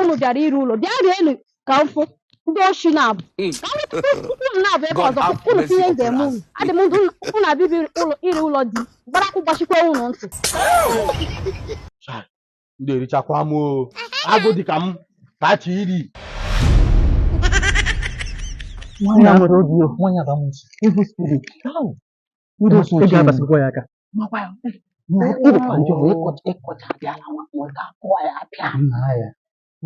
unu bịara iri ụlọ bịa rienu ka m fụ ndị oshi na-abụ hmm. ka unu na-abụ ebe ọzọ unu tinye ndị eme unu adị m ndụ unu abịa iri ụlọ di gbarakụ gbachikwa unu ntị ndị erichakwa m agụ dị ka m ka chi iri nwanyị a nwere obi o nwanyị a bụ amusu evil spirit Ndị otu Ị ọchị ga-abasikwa ya aka. makwa ya na ịdịkwa njọ bụ ịkọcha ịkọcha abịa na nwa ma ọ ga-akụ ya apịa nna ya.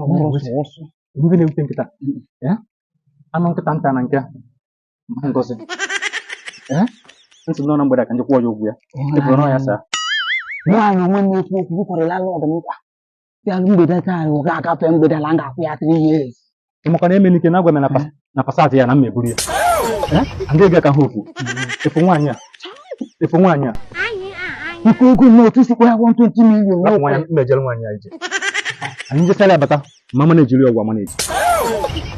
Ọ bụrụ ọsụ ọsụ. Ndị na-ewute nkịta. Ya? Anụ nkịta nta na nke a. Ma ngozi. Ya? M sị na ọ na mgbede ka m ji kwụọ ya ụgwọ ya. Ịbụrụ na ọ ya saa. Nwaanyị onwe na-ekwu okwu bụkwarị landlord m nkwa. ya mgbede taa anyị ga-agafe mgbede na m ga-akwụ ya 3 years ị makwa na Emenike na-agwa m na pas- na Passat ya na m eburu ya Eh? ndị ga ka ha okwu ị fụ nwaanyị a ị fụ nwaanyị a ike ego m otu sikwa ya 120 million rapụ nwaanyị n'ụkwụ mmejere nwaanyị a ije anyị jesara ya bata ma mana ejiri ọgwụ ama na-eji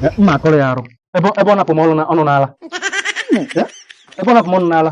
Eh, mma akọrọ ya arụ ebe ebe ọ na-akpụ m ọnụ na- ọnụ n'ala Eh? ebe ọ na-akpụ m ọnụ n'ala